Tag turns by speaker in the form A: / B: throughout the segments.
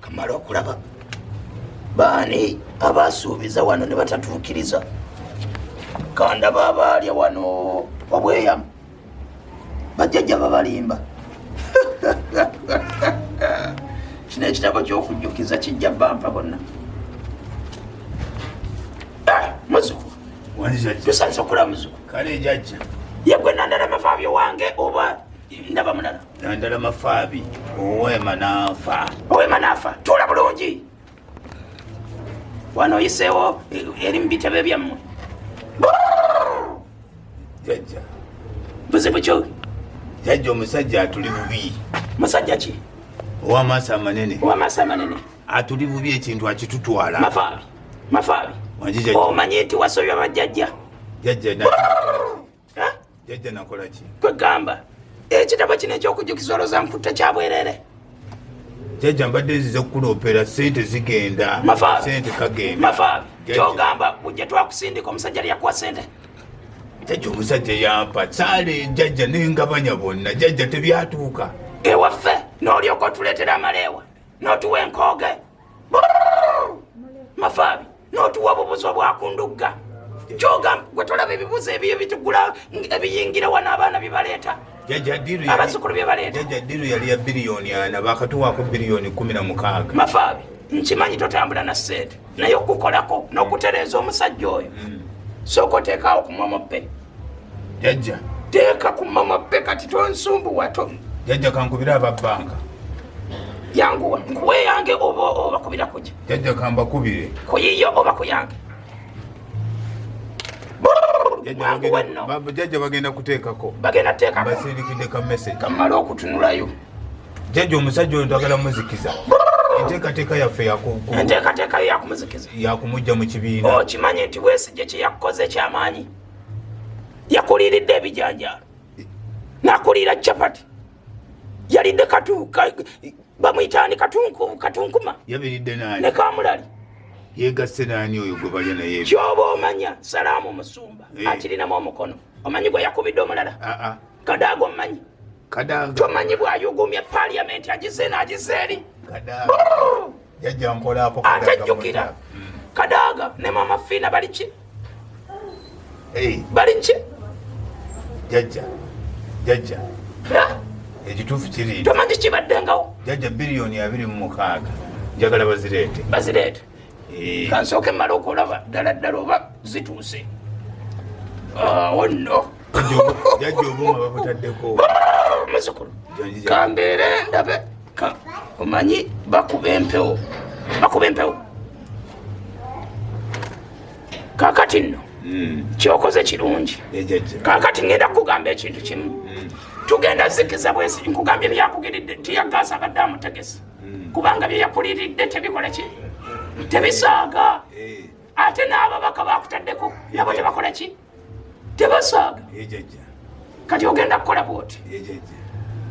A: kamala okulaba baani abasuubiza wano ne batatuukiriza kandaba abaalya wano wabweyamu bajjajja babalimba kino ekitabo kyokujjukiza kijja bampa bonna ah, muzuku tusanisa okula muzuku kale jajja
B: yegwe nandala
A: mafaabi owange oba ndaba mulala nandala mafaabi
B: owema nafa owema nafa tula bulungi
A: wano oyiseewo eh, eri mu bitebe byammwe
B: jajja buzibu
A: kyo jajja
B: omusajja atuli bubi musajja ki
A: owamaaso
B: amanene owamaaso amanene atuli bubi ekintu akitutwala mafaabi mafaabi
A: omanyi nti wasobya bajjajja jajja
B: jajja nakola ki kwegamba
A: ekitabo kino ekyokujjukiza olwoza nkutta kyabwerere
B: jajja mbadde nzize kukuloopera sente zigenda sente kagenda mafaabi kyogamba
A: bujja twakusindika omusajja lyakuwa sente jajja
B: omusajja yampa saale jajja nengabanya bonna jajja tebyatuuka ewaffe
A: n'olyoka otuleetera amaleewa n'otuwa enkooge mafaabi n'otuwa obubuzo bwakundugga kyogamba gwe tolaba ebibuzo ebiyo bitugula ebiyingira wano abaana byebaleeta abazukulu byebaleeta jajja diru yali ya
B: biriyoni ana bakatuwaako biriyoni kumi na mukaaga mafaabi
A: nkimanyi totambula na sente naye okukolako n'okutereeza omusajja oyo mm. sooka oteekaawo ku momope jajja
B: teeka ku
A: mama be kati tonsumbuwato jajja kankubira
B: ababbanka
A: yanguwa nkuwe yange oba obakubira kuja jajja kambakubire
B: kuyiye oba
A: kuyange
B: jajja bagenda kuteekako bagenda teekako basindikidde ka message kamala okutunulayo
A: jajja
B: omusajja oyo twagala muzikiza enteekateeka yaffe enteekateeka
A: yakumuzikiza yakumujja mu kibiina
B: okimanyi oh, nti wesigye
A: kyeyakukoze ekyamaanyi yakuliiridde ebijanjaalo nakuliira capati yalidde bamuyitaani katunkuma ne
B: kamulali
A: yegasse
B: naani oyo gwe balya naye kyoba omanya
A: salaamu musumba eh. akirinamu omukono omanyi gwe yakubidde omulala ah, ah. kadaaga omanyi tomanyi bwayugumya paliamenti agize naagize eri
B: atajjukira
A: kadaaga ne mama fiina baliki baliki jajja
B: jajja ekituufu kiri tomanyi kibaddengawo
A: jajja biliyoni
B: abiri mu mukaaga njagala bazireete bazireete
A: eh. kansooke mala okulaba ddala ddala oba zituuse awo ah, nno
B: jajja obuuma babutaddeko muzukulu
A: kambeere ndabe omanyi bakuba empewo bakuba empewo kakati nno hmm. kyokoze kirungi kakati ngenda kukugamba ekintu kimu hmm. tugenda zikiza bwesi nkugambye byakugiridde tiyagaasa gadde amutegesi hmm. kubanga byeyakuliridde tebikola ki tebisaaga eh. ate n'ababaka bakutaddeko nabo tebakola ki tebasaaga kati ogenda kukola bwoti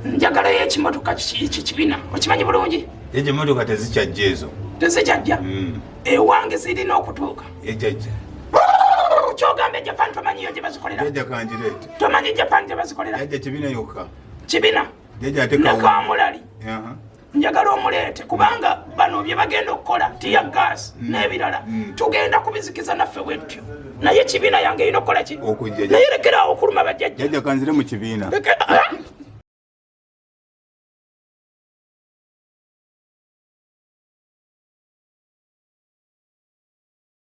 A: njagala yo ekimotoka kikibina okimanyi bulungi ejo emotoka tezikyajja
B: ezo tezikyajja mm.
A: ewange zirina okutuuka ejajja kyogamba ejapan tomanyiyo gyebazikolera tomanyi japan gyebazikolera kibina yokka kibina nekamulali njagala omuleete kubanga bano bye bagenda okukola tiya gaasi mm. n'ebirala mm. tugenda kubizikiza naffe bwetutyo naye ekibiina yange erina okukola ki naye lekeraawo okuluma bajjajjajakanzire mu kibiina